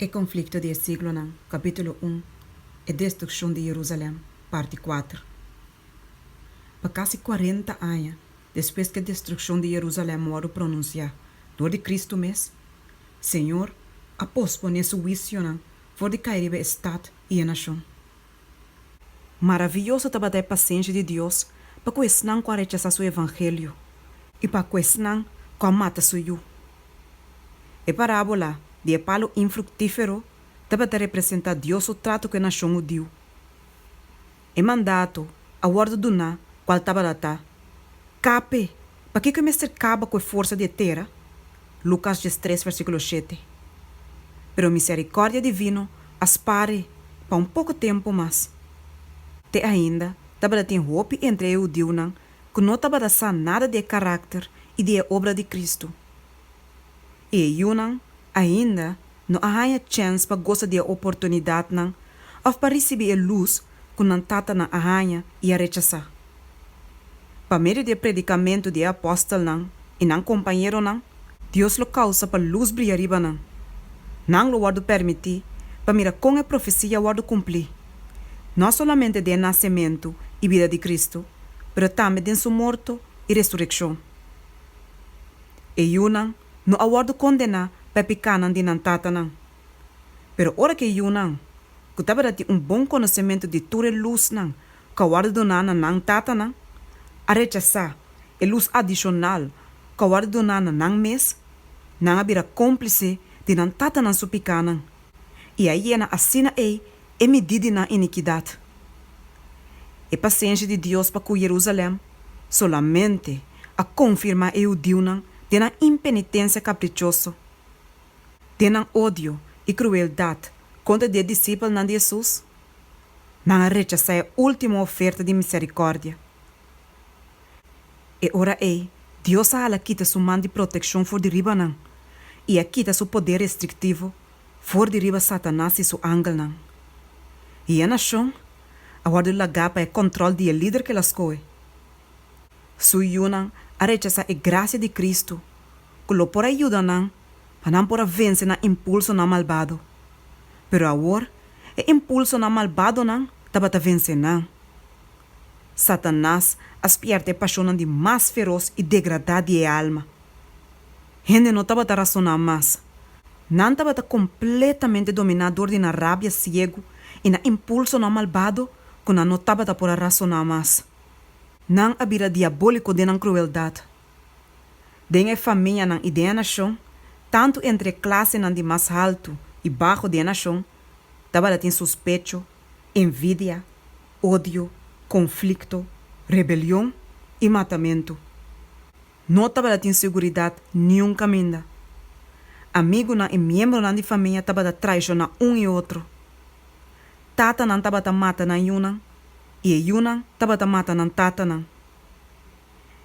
E konflikto di e siglonan, Kapítulo un, E destrukshon di Jerusalèm, Parti kuater. Pa kasi kuarenta aña despues ku e destrukshon di Jerusalèm wòrdu pronunsiá dor di Kristu mes, Señor a posponé Su huisionan for di kai riba e stat i e nashon. Maraviyoso tabata e pasenshi di Dios pa ku esnan ku a rechasá su evangelio i pa ku esnan ku a mata su yu! E parábola di e palu infruktífero tabata representá Dios su tratu ku e nashon hudiu. E mandato a wòrdu duná kual tabata ta, Kape Pakiko e mester kaba ku e forsa di e tera? Lukas dies tres versíkulo shete, Pero miserikòrdia divino a spare pa un poko tempu mas. Te ainda tabata tin hopi entre e hudiunan ku no tabata sa nada di e karakter i di e obra di Kristu. E yunan ainda no a haña chèns pa gosa di e oportunidatnan òf pa risibí e lus ku nan tatanan a haña i a rechasá. Pa medio di e predikamentu di e apòstelnan i nan kompañeronan, Dios lo kousa pa lus bria riba nan. Nan lo wòrdu permití pa mira kon e profesia a wòrdu kumplí, no solamente den e nasementu i bida di Kristu, pero tambe den Su morto i resurekshon. E yunan no a wòrdu kondená pa e pikánan di nan tatanan. Pero ora ku e yunan, ku tabata tin un bon konosementu di tur e lusnan ku a wòrdu doná na nan tatanan, a rechasá e lus adishonal ku a wòrdu doná na nan mes, nan a bira kómplise di nan tatanan su pikánan. i a yena asina ei e midí di nan inikidat. E pasenshi di Dios pa ku Jerusalèm solamente a konfirmá e hudiunan den nan impenitensia kaprichoso, den nan odio i krueldat kontra di e disipelnan di Hesus. Nan a rechasá e último oferta di miserikòrdia. E ora ei, Dios a hala kita su man di protekshon for di riba nan i a kita su poder restriktivo for di riba Satanas i su angelnan. I e nashon a wòrdu lagá pa e kòntròl di e lider ke el a skohe. Su yunan a rechasá e grasia di Kristu ku lo por a yuda nan pa nan por a vense nan impulsonan malbado. Pero awor e impulsonan malbadonan tabata vense nan. Satanas a spièrta e pashonnan di mas feros i degradá di e alma. Hende no tabata rasoná mas. Nan tabata kompletamente dominá dor di nan rabia siegu i nan impulsonan malbado ku nan no tabata por a rasoná mas. Nan a bira diabóliko den nan krueldat. Den e famianan i den e nashon, tantu entre e klasenan di mas haltu i baxo di e nashon, tabata tin suspecho, envidia, odio, konflikto, rebelion i matamentu. No tabata tin seguridat niun kaminda. Amigunan i miembronan di famia tabata traishoná un i otro. Tatanan tabata mata nan yunan i e yunan tabata mata nan tatanan.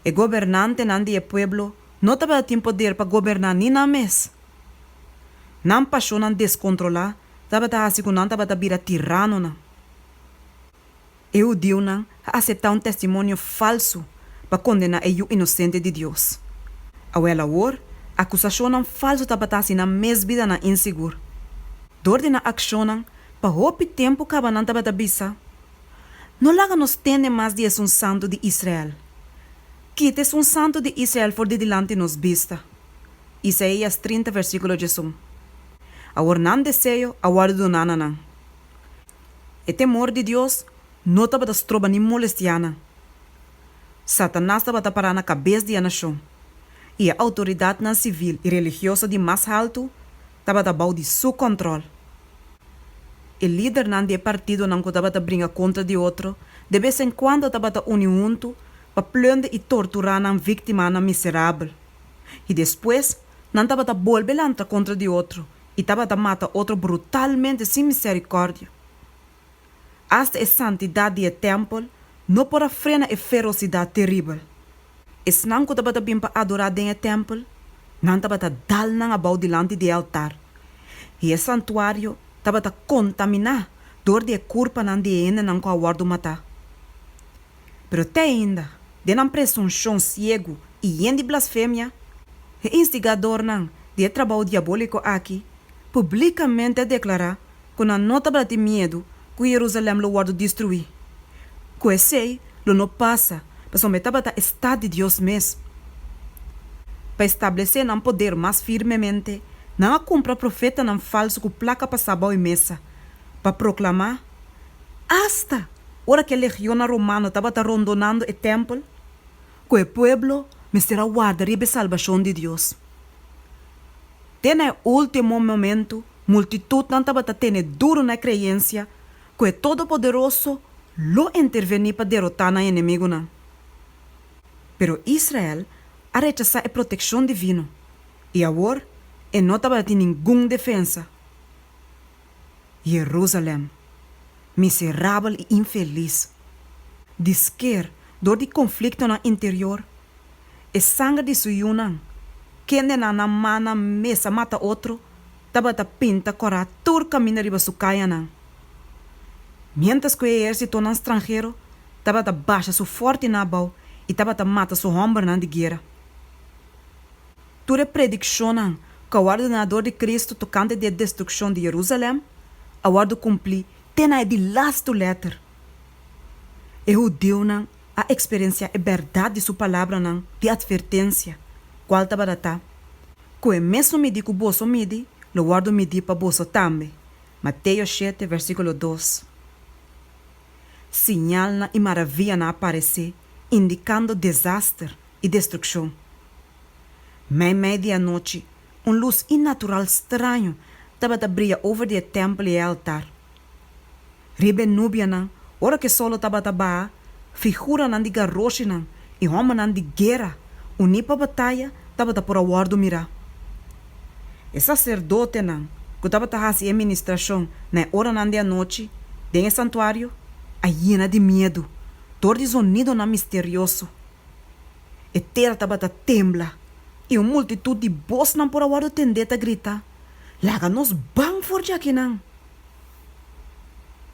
E gobernantenan di e pueblo no tabata tin poder pa goberná ni nan mes. Nan pashonnan deskontrolá tabata hasi ku nan tabata bira tiranonan. E hudiunan a aseptá un testimonio falsu pa kondená e yu inosente di Dios. Awor awor, akusashonnan falsu tabata hasi nan mes bidanan insigur. Dor di nan akshonnan, pa hopi tempu kaba nan tabata bisa, No laga nos tende mas di e sun santu di Israel. Kita e sun santu di Israel for di dilanti nos bista. Isaías trinta, versíkulo djesun. Awor nan deseo a wòrdu doná na nan. E temor di Dios no tabata stroba ni molestianan. Satanas tabata pará na kabes di e nashon, i e outoridatnan sivil i religioso di mas haltu tabata bou di su kòntròl. E lidernan di e partidonan ku tabata bringa kontra di otro de bes en kuando tabata uni huntu pa plunde i torturá nan víktimanan miserabel, i despues nan tabata bolbe lantra kontra di otro i tabata mata otro brutalmente sin misericordia. Asta e santidad di e tempel no por a frena e ferocidad terribel. Esnan cu tabata bin pa adora den e tempel, nan tabata dal nan abao dilanti di e altar, i e santuario tabata contamina dor di e curpanan di e hendenan cu a wordo mata. Pero te ainda, den nan presunshon siegu i yen di blasfemia, e instigadornan di e trabou diabóliko aki publíkamente a deklará ku nan no tabata tin miedu ku Yerusalèm lo wòrdu destruí, ku esei lo no pasa pasobra e tabata e stat di Dios mes. Pa establesé nan poder mas firmemente, nan a kumpra profetanan falsu ku plaka pa sa bou e mesa pa proklamá Asta ora ku e legionnan romano tabata rondonando e tèmpel, ku e pueblo mester a warda riba e salbashon di Dios. Te na e último momentu, multitutnan tabata tene duru na e kreensia ku e Todopoderoso lo intervení pa derotá nan enemigunan. Pero Israel a rechasá e protekshon divino, i awor e no tabata tin ningun defensa. Jerusalem, miserabel i infelis! Di sker, dor di konfliktonan interior, e sanger di su yunan, kendenan nan mannan mes a mata otro, tabata pinta kòrá tur kaminda riba su kayanan, miéntras ku e ehérsitonan stranhero tabata basha su fòrtinan abou i tabata mata su hòmbernan di guera. Tur e predikshonnan ku a wòrdu duna dor di Kristu tokante di e destrukshon di Yerusalèm a wòrdu kumplí te na e di lastu lèter. E hudiunan a eksperensiá e bèrdat di su palabranan di atvertensia, kual tabata ta, Ku e mesun midí ku boso midi, lo wòrdu midí pa boso tambe, Mateo shete vèrsíkulo dos. Siñalnan i maravianan a paresé, indikando desaster i destrukshon. Mei mei di anochi, un lus inatural straño tabata bria over di e tèmpel i e altar. Riba e nubianan, ora ku e sòl lo tabata baha, figuranan di garoshinan i hòmbernan di guera uní pa bataya tabata por a wòrdu mirá. E saserdotenan ku tabata hasi e ministrashon na e oranan di anochi den e santuario a yena di miedu, dor di zonidonan misterioso. E tera tabata tembla, i un multitut di bosnan por a wòrdu tendé ta grita, Laga nos ban for dja kinan!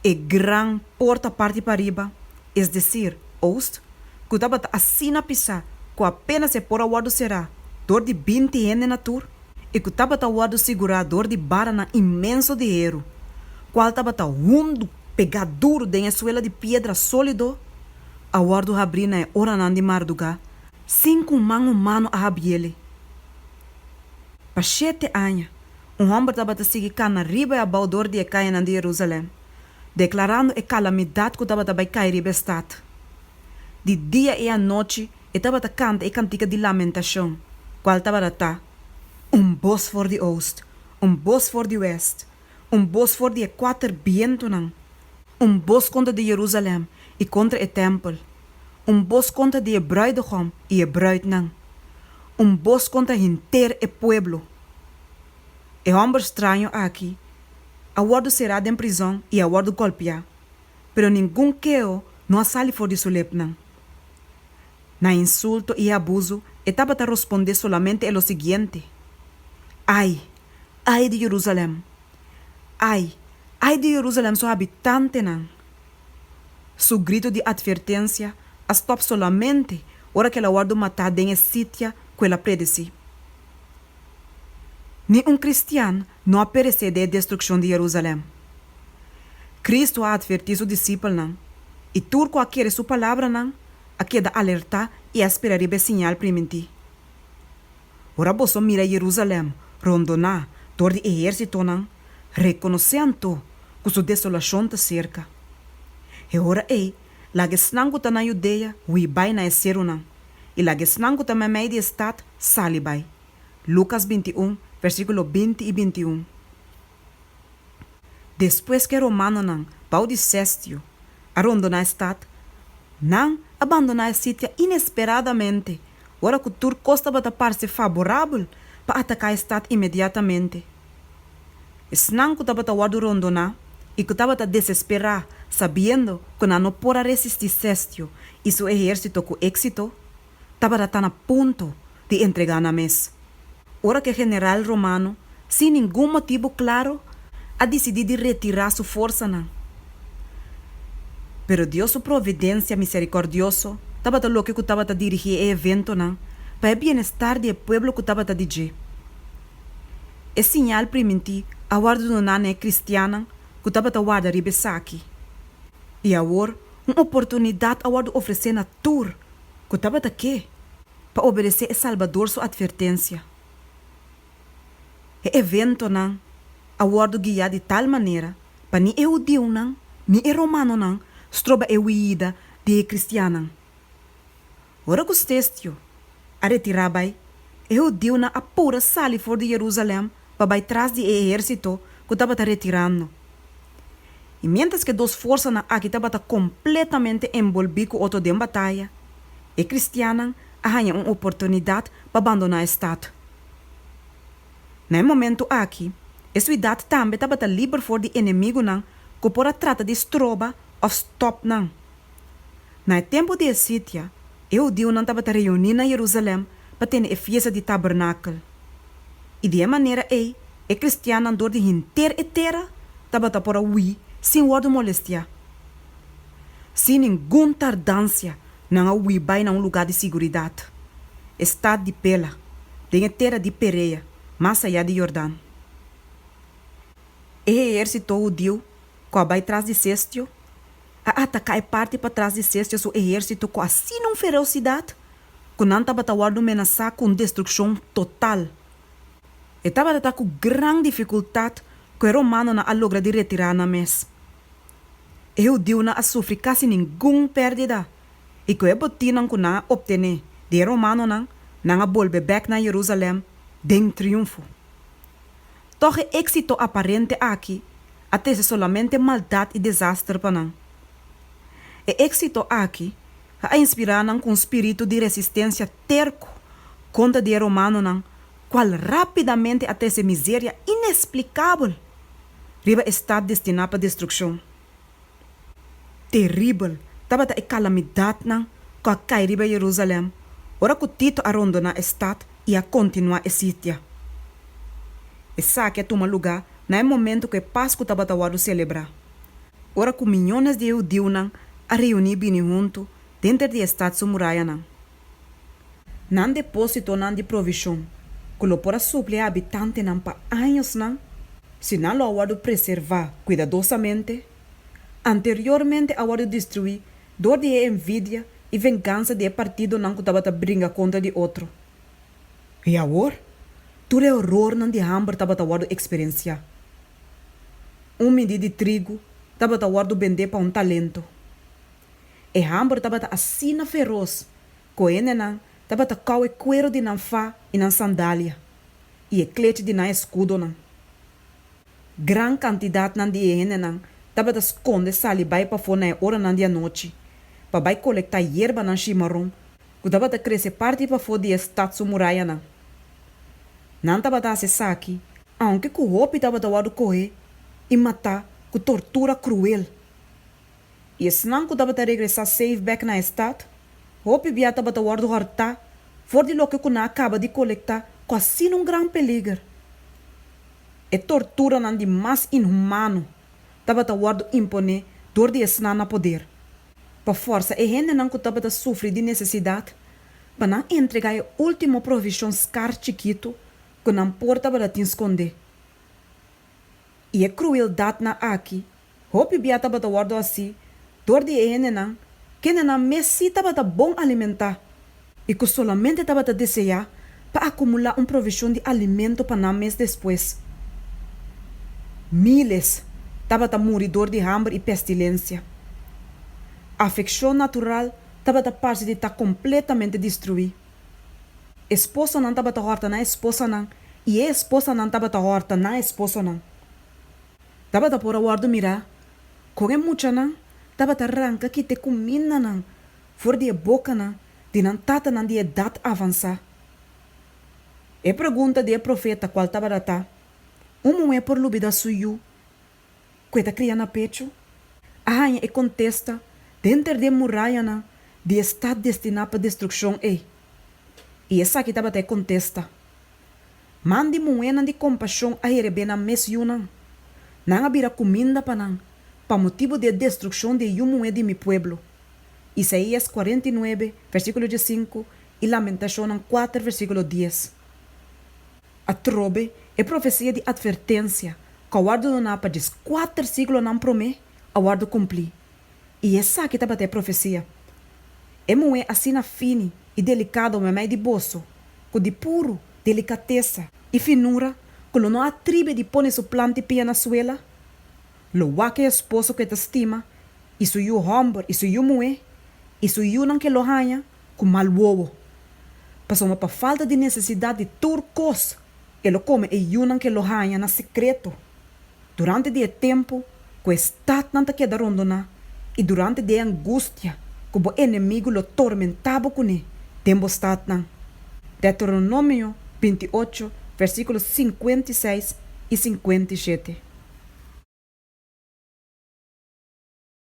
E gran por ta parti pariba, es desir, oost, ku tabata asina pisá ku apénas e por a wòrdu será dor di binti hende na tur, i ku tabata wòrdu sigurá dor di baranan inmenso di heru, kual tabata hundu, pegá duru den e suela di piedra sólido. a wòrdu habrí na e oranan di mardugá sin ku un man humano a habiéle. Pa shete aña, un hòmber tabata sigui kana riba i abou dor di e kayanan di Jerusalèm, deklarando e kalamidat ku tabata bai kai riba e stat. Di dia i anochi e tabata kanta e kantika di lamentashon, kual tabaratá, Un bos for di oost, un bos for di wèst! Un bos for di e kuater bientunan. Un bos kontra di Jerusalèm i kontra e tèmpel. Un bos kontra di e brùidegom i e brùitnan. Un bos kontra henter e pueblo. E hòmber straño aki a wòrdu será den prizòn i a wòrdu gòlpiá, pero ningun keo no a sali for di su lepnan. Na e insulto i e abuso e tabata rospondé solamente e lo siguiente, Ai! Ai di Jerusalem! Ai! Ai di Jerusalem su habitantenan! Su grito di atvertensia a stòp solamente ora ku el a wòrdu matá den e sitia ku el a predesí. Ni un kristian no a peresé den e destrukshon di Jerusalem. Kristu a atvertí su disipelnan, i tur ku a kere su palabranan a keda alertá i a spera riba e siñal primintí. Ora boso mira Jerusalem rondoná dor di ehérsitonan, rekonosé anto ku su desolashon ta serka. E ora ei, laga esnan ku ta na Yudea hui bai na e serunan, i laga esnan ku ta meimei di e stat sali bai. Lukas binti un, versíkulo binti i binti un. Despues ku e romanonan, bou di Sestio, a rondoná e stat, nan a bandoná e sitia inesperadamente ora ku tur kos tabata parse faborabel pa ataká e stat inmediatamente. Esnan ku tabata wòrdu rondoná i ku tabata desesperá sabiendo ku nan no por a resistí Sestio i su ehérsito ku éksito, tabata ta na punto di entregá nan mes, ora ku e general romano sin ningun motibu klaru a disidí di retirá su forsanan. Pero Dios su providensia miserikòrdioso tabata loke ku tabata dirigí e eventonan pa e bienestar di e pueblo ku tabata di dje. E siñal primintí a wòrdu doná na e kristiannan ku tabata warda riba esaki, i awor un oportunidat a wòrdu ofresé na tur Cu tabata ke pa obedecé e Salbador su advertencia. E eventonan a wordo guia di tal manera pa ni e hudiunan ni e romanonan stroba e huida di e cristiannan. Ora cu Stestio a retira bai, e hudiunan a pura sali for di Jerusalem pa bai tras di e ehérsito ku tabata retirando. I miéntras ku e dos forsanan aki tabata kompletamente enbolbí ku otro den bataya, e kristiannan a haña un oportunidat pa bandoná e stat. Na e momentu aki, e suidat tambe tabata liber for di enemigunan ku por a trata di stroba òf stòp nan. Na e tempu di e sitia, e hudiunan tabata reuní na Jerusalèm pa tene e fiesta di Tabernakel, i di e manera ei e kristiannan dor di henter e tera tabata por a hui sin wòrdu molestiá. Sin ningun tardansia nan a hui bai na un lugá di siguridat, e stat di Pela, den e tera di Perea, mas ayá di Yordan. E heérsito hudiu ku a bai tras di Sestio, a ataká e parti patras di Sestia su ehérsito ku asina un fereosidat ku nan tabata wòrdu menasá ku un destrukshon total. E tabata ta ku gran difikultat ku e romanonan a logra di retirá nan mes. E hudiunan a sufri kasi ningun pèrdida i ku e botinnan ku nan a optené di e romanonan, nan a bolbe bèk na Jerusalèm den triunfo. Tòg e éksito aparente aki a trese solamente maldat i desaster pa nan. E éksito aki a inspirá nan ku un spiritu di resistensia terku kontra di e romanonan kual rápidamente a trese miseria inesplikabel riba e stat destiná pa destrukshon. Teribel tabata e kalamidatnan ku a kai riba Yerusalèm ora ku Tito a rondoná e stat i a kontinuá e sitia. Esaki a tuma lugá na e momentu ku e Pasku tabata wòrdu selebrá, ora ku miñones di e hudiunan a reuní bini huntu denter di e stat su murayanan. Nan depósitonan di provishon, ku lo por a supli habitantenan pa añosnan si nan lo a wòrdu preservá kuidadosamente, anteriormente a wòrdu destruí dor di e envidia i vengansa di e partidonan ku tabata bringa kontra di otro. I awor, tur e orornan di hamber tabata wòrdu eksperensiá. Un midí di trigu tabata wòrdu bendé pa un talento. E hambor tabata asina feros cu hendenan tabata cau e cuero di nan fa y nan sandalia y e clech di nan escudonan. Gran cantidadnan di e hendenan tabata sconde sali bay pafo na e oranan di anochi pa bay colecta yerbanan shimaron cu tabata crece parti pafo di e stad su murayanan. Nan tabata haci esaki aunke cu hopi tabata wordo coge y mata cu tortura cruel. i esnan ku tabata regresá seif bèk na e stat, hopi bia tabata wòrdu hòrtá for di loke ku nan a kaba di kolektá ku asina un gran peliger. E torturanan di mas inhumano tabata wòrdu imponé dor di esnan na poder, pa fòrsa e hendenan ku tabata sufri di nesesidat pa nan entregá e último provishon skar chikitu ku nan por tabata tin skondé. I e krueldatnan aki Hopi bia tabata wòrdu hasi dor di e hendenan kendenan mes sí tabata bon alimentá i ku solamente tabata deseá pa akumulá un provishon di alimento pa nan mes despues. Míles tabata muri dor di hamber i pestilensia. Afekshon natural tabata parse di ta kompletamente destruí. Esposanan tabata hòrta nan esposanan i e esposanan tabata hòrta nan esposonan. Tabata por a wòrdu mirá kon e muchanan tabata ranka kit e kumindanan for di e bokanan di nan tatanan di edat avansá. E pregunta di e profeta kual tabata ta, Un muhé por lubidá su yu ku e ta kria na pechu? a haña e kontesta den ter di e murayanan di e stat destiná pa destrukshon ei. I esaki tabata e kontesta. Man di muhénan di kompashon a herebé nan mes yunan. Nan a bira kuminda pa nan, pa motibu di e destrukshon di e yu muhé di mi pueblo. Isaías kuarenta i nuebe, versíkulo diesinku, i Lamentashonnan kuater, versíkulo dies. Atrobe, e profesia di atvertensia ku a wòrdu doná pa djes kuater siglonan promé, a wòrdu kumplí. I esaki tabata e profecia. E muhé asina fini i delicado mamey di boso, cu di puru delicatesa i finura cu lo no a atribi di pone su planti pia na suela, lo wak e esposo cu e ta stima, i su yu homber i su yu muhé, i su yunan cu e lo haña, ku mal wowo, pasobra pa falta di nesesidat di tur kos e lo kome e yunan ku e lo haña na sekreto durante di e tempu ku e statnan ta keda rondoná i durante di e angustia ku bo enemigu lo tormentá bo kuné den bo statnan. Deuteronomio binti i ocho, versíkulo sinkuenta i seis i sinkuenta i shete.